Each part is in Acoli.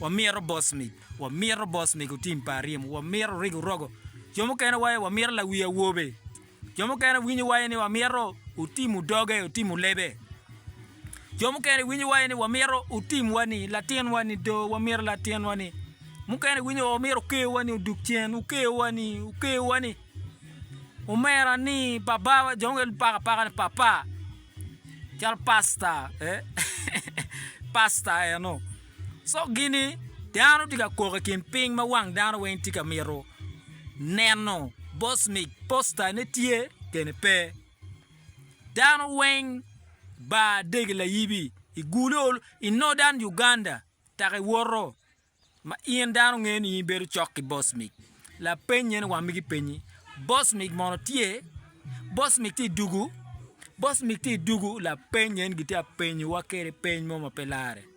Wamito bosmic, wamito bosmic otim pa aryim, wamito orig orogo. Jo mukene waye wamito lawi awobe. Jo mukene winyo waye ni wamito otim odoge, otim olebe. Jo mukene winyo waye ni wamito otim wani, latin wani do, wamito latin wani. Mukene winyo wa wamito okeyo wani oduk cen, okeyo wani, okeyo wani. Omera ni baba wa, jo mukene paka paka ni papa. Cal pasta, eh? pasta eno. Coggi ni, Dano tye ka kok i kin piny ma wang dano weng tye ka mito neno bot mic, posta, ne tye kene pe. Dano weng bar degi layibi i gulo i Northern Uganda taka i woto ma in dano ngeyo ni in ibedo cok ki bot mic. Lapeny eni wang migi penyi, Bot mic mono tye? Bot mic tye i dugu? Bot mic tye i dugu? Lapeny eni gitye ka penyowa kwede peny mo ma pe larre.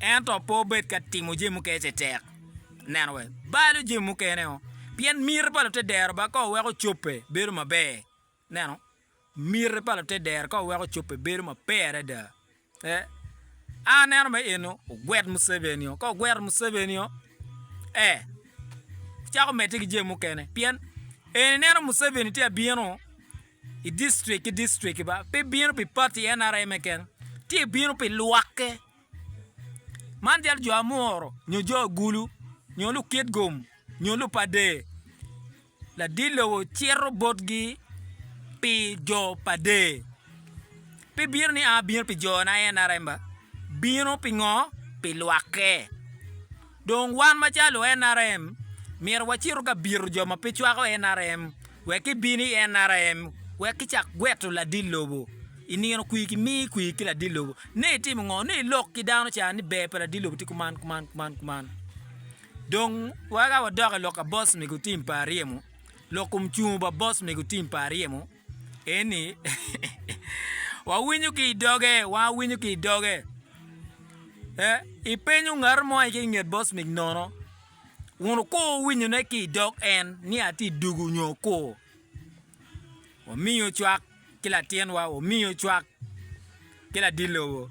Ento pe wubed ka timo jami mukene ci tek neno wek balo jami mukene o, pien miti pa lutedero ba ka weko ocobbe bedo maber. Ineno? Miti pa lutedero ka weko ocobbe bedo maber adada. E, a aneno me eno ogwet Museveni o, ka ogwero Museveni o, e, wucako medde ki jami mukene, pien en ineno Museveni tye abino, i distrik ki distrik ba pe bino pi pati NRM-e kene, tye bino pi lwakke. Man jalo jo amuro nyo jo agulu nyo lukit gum nyo lupader. Ladit lobo cito botgi pi jo pa der. Pe bino ni a bino pi jona NRM ba bino pi ngo pi lwakke. Dong wan macalo nrm myero wacito ka bito jo ma pe cwako nrm wek gibin i nrm wek gicak gweto ladit lobo i nino kwir ki mii kwir ki ladit lobo ni itimo ngo ni ilok ki dano ca ni ber pa ladit lobo tye kuman kuman kuman kuman dong weka wadok i lok pa boss mego tim pa aryemo lok kom cungo pa boss mego tim pa aryemo. Eni, wawinyo ki i doge, wawinyo ki i doge. Ipenyo ngat mo aye ki i nget bocmik nono, kun wuko winyone ki i dog en ni atye i dugu nyo kur. Wamiyo cwak ki latinwa, wamiyo cwak ki ladit lobo.